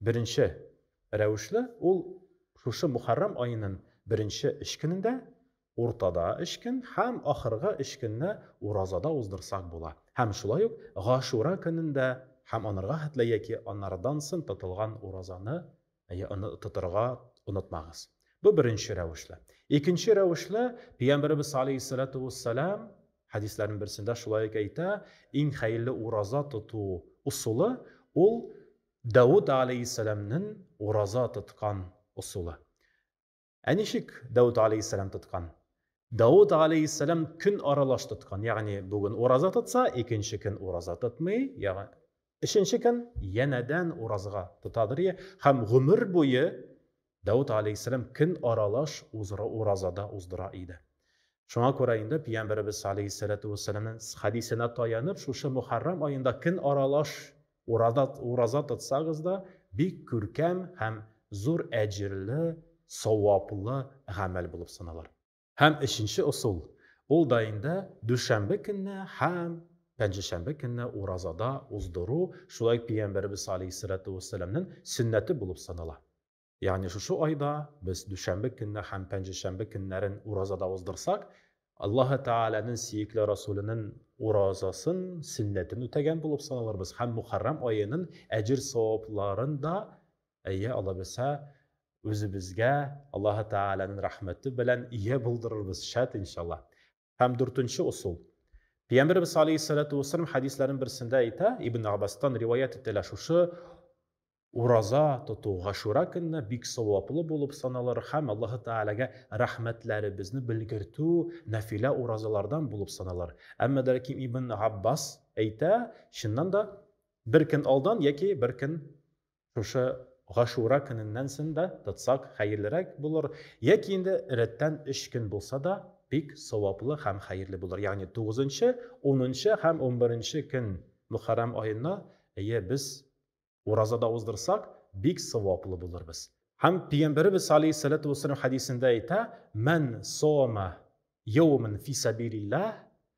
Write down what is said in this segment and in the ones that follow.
Беренче рәвешле ул шушы Мухаррам аенын беренче өч көнендә, уртада өч көн һәм ахыргы өч көнне уразада уздырсак була. Һәм шулай ук Гашура көнендә һәм анырга хәтле яки анардан сон тотылган уразаны тотырга онытмагыз. Бу беренче рәвешле. Икенче рәвешле, Пәйгамбәребез салейһиссәләтү уссәлам хәдисләрнең берсендә шулай ук әйтә, иң хәерле ураза тоту усулы ул Дауд галәйһиссәламнен ураза тоткан ысулы. Ә ничек Дауд галәйһиссәлам тоткан? Дауд галәйһиссәлам көн аралаш тоткан, ягъни бүген ураза тотса, икенче көн ураза тотмый, ягъ, өченче көн янәдән уразга тотадыр, йә, һәм гомер буе Дәүт алейһиссәлам көн аралаш узыры уразада уздыра иде. Шуңа күрә инде Пиямбәребез алейһиссәләтү вәссәламнең хәдисенә таянып, шушы Мөхәррам аенда көн аралаш урада ураза тотсагыз да, бик күркәм һәм зур әҗерле, саваплы гамәл булып саналыр. Һәм өченче ысул, ул да инде дүшәмбе көнне һәм пәнҗешәмбе көнне уразада уздыру, шулай ук Пәйгамбәребез алейһиссәләтү вәссәламнең сөннәте булып санала. Ягъни шушы айда без дүшәмбе көнне һәм пәнҗешәмбе көннәрен уразада уздырсак, Аллаһы Тәгаләнең сөекле Расуленең уразасын, сөннәтен үтәгән булып саналырбыз һәм Мухәррәм аеның әҗер-савапларын да, әйе, аллабирса, Үзебезгә Аллаһы Тәгаләнең рәхмәте белән ия булдырырбыз, шәт, иншалла. Һәм дүртенче усул. Пәйгамбәребез алейһиссалату вассалам хәдисләрен берсендә әйтә, Ибн Аббастан риваять ителә шушы ураза тоту гашура көнне бик саваплы булып саналыр һәм Аллаһы Тәгаләгә рәхмәтләребезне белгертү нәфилә уразалардан булып саналыр. Әмма дә ләкин Ибн Габбас әйтә, чыннан да, бер көн алдан яки бер көн Шушы Гашура көненнән сон да тотсак хәерлерәк булыр, яки инде рәттән өч көн булса да, бик саваплы һәм хәерле булыр. Ягъни тугызынчы, унынчы һәм унберенче көн Мөхәррәм аена, әйе, без ураза да уздырсак, бик саваплы булырбыз. Һәм Пигамбәребез галәйһиссәлату вәссәлам хәдисендә әйтә, Мән сома йәүмен фи сәбилилләһ,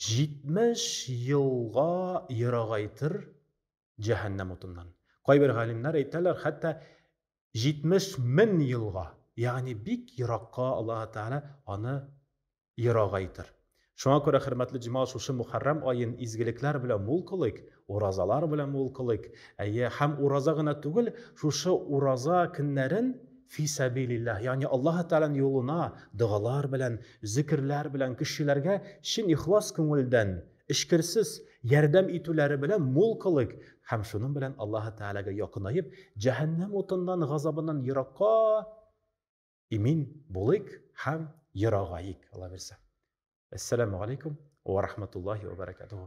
70 елга ерагайтыр җәһәннәм утыннан. Кайбер галимнәр әйтәләр, хәтта 70 мең елга, ягъни бик еракка Аллаһ Тәгалә аны ерагайтыр. Шуңа күрә, хөрмәтле җимал, шушы Мухаррам аен изгелекләр белән мул кылыйк, Уразалар белән мул кылыйк. Әйе, һәм ураза гына түгел, шушы ураза көннәрен фи сәбилиллаһ, ягъни Аллаһы Тәгаләнең юлына догалар белән, зикерләр белән, кешеләргә чын ихлас күңелдән, эчкерсез ярдәм итүләре белән мул кылыйк, һәм шуның белән Аллаһы Тәгаләгә якынаеп, җәһәннәм утыннан, газабыннан еракка имин булыйк һәм ерагаик, Алла бирсә. Әссәламү галәйкүм уә рахматуллаһи уә бәрәкәтүһү.